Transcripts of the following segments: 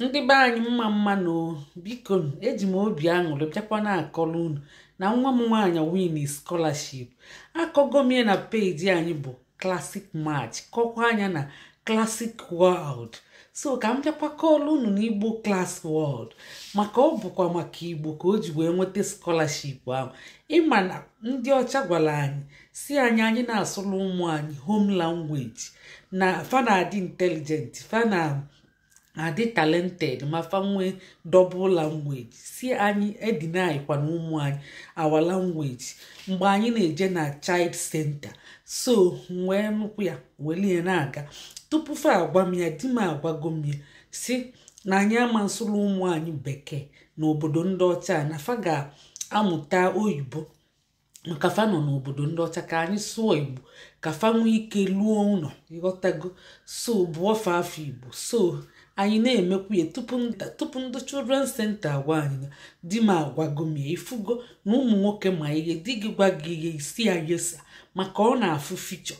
ndị be anyị mma mma nụ biko eji m obi aṅụrị bịakwa na-akọrọ unu na nwa m nwaanyị win scholarship akọgo m ya na peji anyị bụ classic match kọkwaa ya na classic world so ka m bịakwa kọọlụ unu n'igbo class world maka ọ bụkwa maka igbo ka o ji wee nweta scholarship ahụ ị ma na ndị ọcha gwara anyị sị anyị anyị na-asụrụ ụmụ anyị home language na fa na-adị intelligent fa na-adị talented ma fa nwee double language sị anyị edenykwana ụmụ anyị our language mgbe anyị na-eje na child center so m wee nụkwu ya welie na-aga tupu fa agwa m ya di m agwago m ya sị na anyị ama nsụrụ ụmụ anyị bekee n'obodo ndị ọcha na fa ga-amụta oyibo maka fa nọ n'obodo ndị ọcha ka anyị sụọ igbo ka fa nwee ike luo ụlọ ị ghọtago so bụọ fa afa igbo so anyị na-emekwu ya tupu ndị children center agwa anyị na di m agwago m ya ị fụgo na ụmụ nwoke ma ihe di gị gwa gị ihe ị sị ya yes sir maka ọ na-afụ future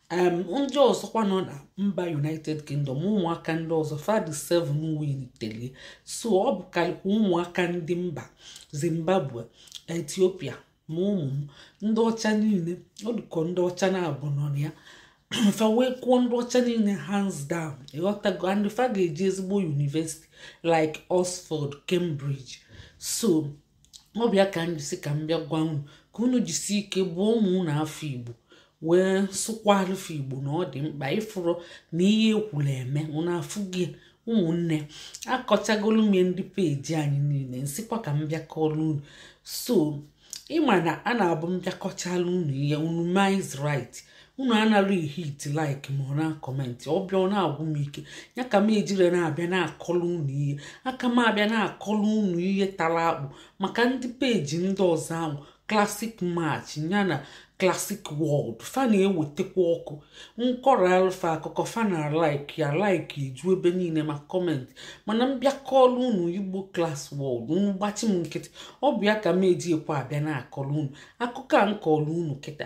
ndị ọzọkwa nọ na mba united kingdom ụmụaka ndị ọzọ fa dị 7 winitere ya so ọ bụkarịkwa ụmụaka ndị mba zimbabwe ethiopia ma ụmụ ndị ọcha niile ọ dịka ọ ndị ọcha naabọ nọ na ya fa wee kụọ ndị ọcha niile hands down ị ghọtago and fa ga-eje ezigbo university like oxford cambridge so ọ bụ ya ka m ji sị ka m bịa gwa unu ka unu jisi ike bụọ ụmụ unu afa igbo wee sụkwaalụ fa igbo na ọ dị mkpa ị fụrụ na ihe e kwuru emee unu afụgo ya ụmụnne akọchagolụ m ndị peji anyị niile m sịkwa ka m bịa kọrọ unu so ị ma na a na-abụ m bịa kọchaalụ unu ihe unu minds right unu anara ehit like ma ọ na-acomment ọ bịa ọ na-agwụ m ike ya ka m ejire na-abịa na-akọlụ unu ihe aka m abịa na-akọlụ unu ihe tara akpụ maka ndị peji ndị ọzọ ahụ classic match ya na classic world fa na-ewetakwa ọkụ m kọọlụ fa akụkọ fa na-alike ya like eju ebe niile ma comment mana m bịa kọlụ unu igbo class world unu gbachi m nkịtị ọ bụ ya ka m eji ekwe abịa na-akọlụ unu akụkọ a m kọlụ unu kịta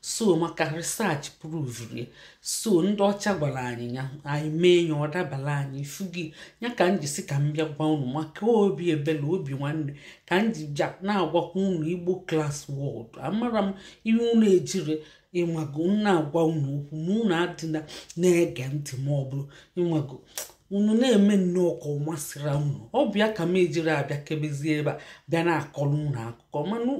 so maka research provuru ya so ndị ọcha gwara anyị ya anyị mee ya ọ dabara anyị ị fụgo ya ka m ji sị ka m bịa gwa unu maka obi ebele obi nwanne ka m ji bịa na-agwakwa unu igbo class world amara m ihe unu ejiri ịnwago na-agwa unu okwu ma unu adịla na-ege ntị ma ọ bụrụ ịnwago unu na-eme nnọọ ka ọ masịra unu ọ bụ ya ka m ejiri abịa kebezie ebe a bịa na-akọrọ unu akụkọ mana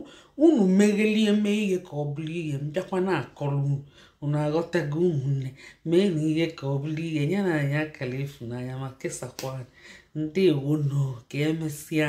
unu meghelie mee ihe ka ọ bụrụ ihe m bịakwa na-akọrọ unu unu aghọtago ụmụnne meenụ ihe ka ọ bụrụ ihe nyenụ anyị akara efu n'anya ma kesakwa ndewonụ ka emesịa